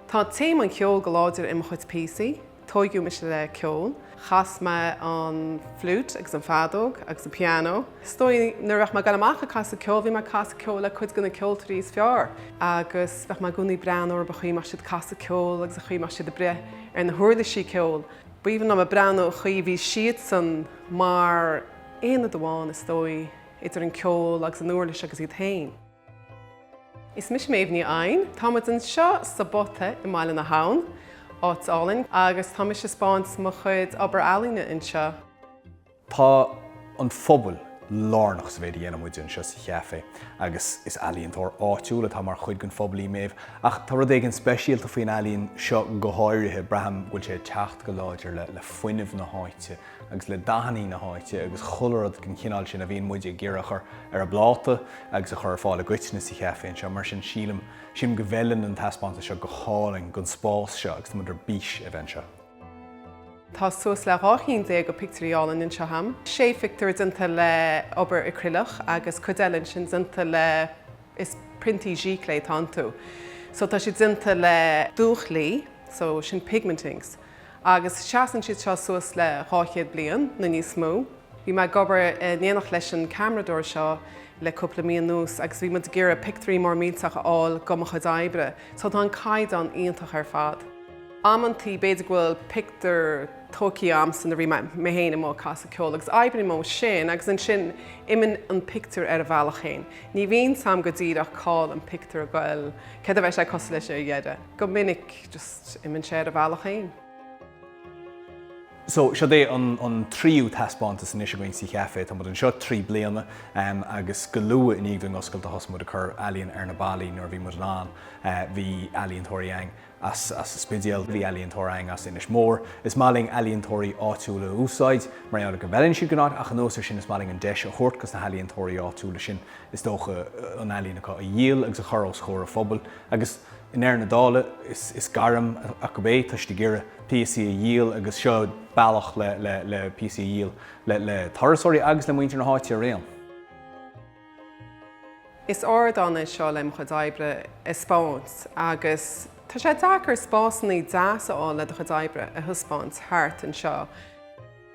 Tá téama an cheoil go láidir i mo chuid píosaí. Tóigeadh mise le ceol. Chas mé an fliúit agus an feadóg agus an piano. Is dóigh nuair a bheadh mé ag dul amach ag casadh ceoil, bhí mé ag casadh ceoil le cuid de na ceoltóirí is fearr agus bheadh mé i gcónaí ag breathnú ar an gcaoi a mbeadh siad ag casadh ceoil agus an chaoi a mbeadh siad ag breith ar na huirlisí ceoil. B'aoibhinn liom a bheith ag breathnú ar an gcaoi a bhí siadsan mar aonad amháin is dóigh idir an ceol agus an uirlis agus iad féin. Is mise Méabh Ní Eidhin. Tá muid anseo sa bPota i mBaile na hAbhann, áit álainn, agus tá mé ag spáint mo chuid obair ealaíne anseo. Tá an pobal lárnach sa mhéid a dhéanann muid anseo sa Chaifé agus is ealaíontóir áitiúil atá mar chuid den phobal í Méabh. Ach tá rud éigin speisialta faoin ealaín seo go háirithe, braithim go bhfuil sé ag teacht go láidir le fuinneamh na háite. agus le dathannaí na háite agus chuile rud den chineál sin a bhíonn muide ag iarraidh a chur ar an bpláta agus a chur ar fáil i gcoitinne sa Chaifé anseo, mar sin sílim, sílim go bhfeileann an taispeántas seo go hálainn don spás seo agus tá muid ar bís a bheith anseo. Tá suas le dhá cheann déag de phictiúirí álainn anseo agam. Sé phictiúr déanta le obair acrileach agus cuid eile ansin déanta le, is priontaí giclée atá iontu. So tá siad déanta le dúch lí, so sin pigment inks. agus seasann siad seo suas le 200 bliain nó níos mó. Bhí mé ag obair in éineacht leis an ceamaradóir seo le cúpla mí anuas agus bhí muid ag iarraidh pictiúirí mór millteach a fháil de mo chuid oibre so tá an caighdeán iontach ar fad. Amantaí b'fhéidir go bhfuil pictiúr tóigthe a'amsa nuair a bhí mé féin amuigh ag casadh ceoil agus oibrím ó sin agus ansin imionn an pictiúr ar a bhealach féin. Ní bhíonn a fhios a'm go díreach cá'il an pictiúr ag goil, céard a bheidh sé cosúil leis ag an deireadh, go minic. Just imionn sé ar a bhealach féin. So, seo é an tríú taispeántas anois againn sa Chaifé. Tá muid anseo trí bliana agus go luath i ndiaidh dúinn oscailt a thosaigh muid ag cur ealaíon ar na ballaí. Nuair a bhí muid in ann bhí ealaíontóirí ann as an Spidéal, bhí ealaíontóir ann as Inis Mór. Is maith linn ealaíontóirí áitiúla a úsáid mar gheall ar go bhfeileann siad don áit ach anuas ar sin is maith linn an deis a thabhairt dos na healaíontóirí áitiúla sin is dócha an ealaíon acu a dhíol agus a chur os comhair an phobail agus I ndeireadh na dála, is gairm acu é, tá siad ag iarraidh píosaí a dhíol agus seo bealach le píosaí a dhíol le turasóirí agus le muintir na háite araon. Is ardán é seo le mo chuid oibre a 'speáint agus tá sé deacair spásannaí deas a fháil le do chuid oibre a thaispeáint thart anseo.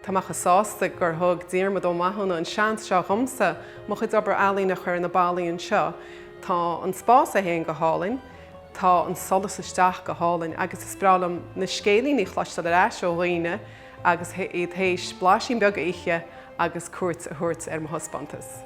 Tá mé chomh sásta gur thug Diarmuid Ó Mathúna an seans seo dhomsa mo chuid obair ealaíne a chur ar na ballaí anseo. Tá an spás é féin go hálainn, tá an solas isteach go hálainn agus is breá liom na scéilíní a chloisteáil ar ais ó dhaoine agus iad théis blaisín beag a ithe agus cuairt a thabhairt ar mo thaispeántas.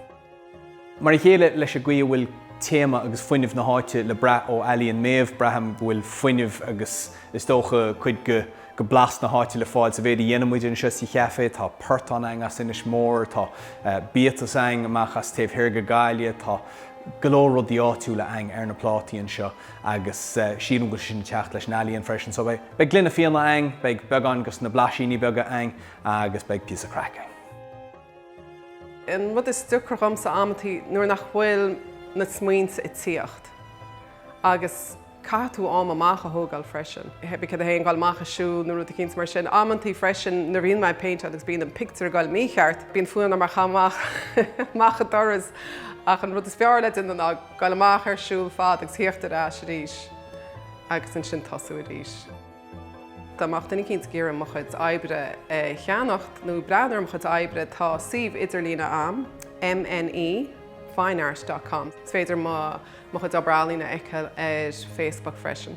Mar a chéile leis an gcaoi a bhfuil téama agus fuinneamh na háite le brath ó ealaín Mhéabh, braithim go bhfuil fuinneamh agus is dócha cuid de bhlas na háite le fáil sa mhéid a dhéanann muid anseo sa cheafé. Tá portán againn as Inis Mór, tá biatas againn amach as taobh thoir de Ghaillimh, tá go leor rudaí áitiúla againn ar na plátaí anseo agus sílim go bhfuil sé sin ag teacht leis an ealaín freisin. So beidh gloine fíona againn, beidh beagán de na blaisíní beaga againn agus beidh píosa craice againn. An rud is deacra dhomsa amanntaí nuair nach bhfuil na smaointe ag tíocht agus caithfidh tú am amach a thógáil freisin, hé bí céard é féin gáil amach ag siúl nó rud eicínt mar sin. Amanntaí freisin nuair a bhíonn mé ag péinteáil agus bíonn an pictiúr ag gáil mícheart, bíonn fonn orm é a chaitheamh amach an doras ach an rud is fearr le déanamh ná gáil amach ar siúl fada agus a thíocht ar ais arís agus ansin tosú arís. Dá mbeadh duine eicínt ag iarraidh mo chuid oibre a cheannacht nó breathnú ar mo chuid oibre tá suíomh idirlíon a'am, MNE fine art dot com. Is féidir mo mo chuid obair ealaíne a fheiceáil ar Facebook freisin.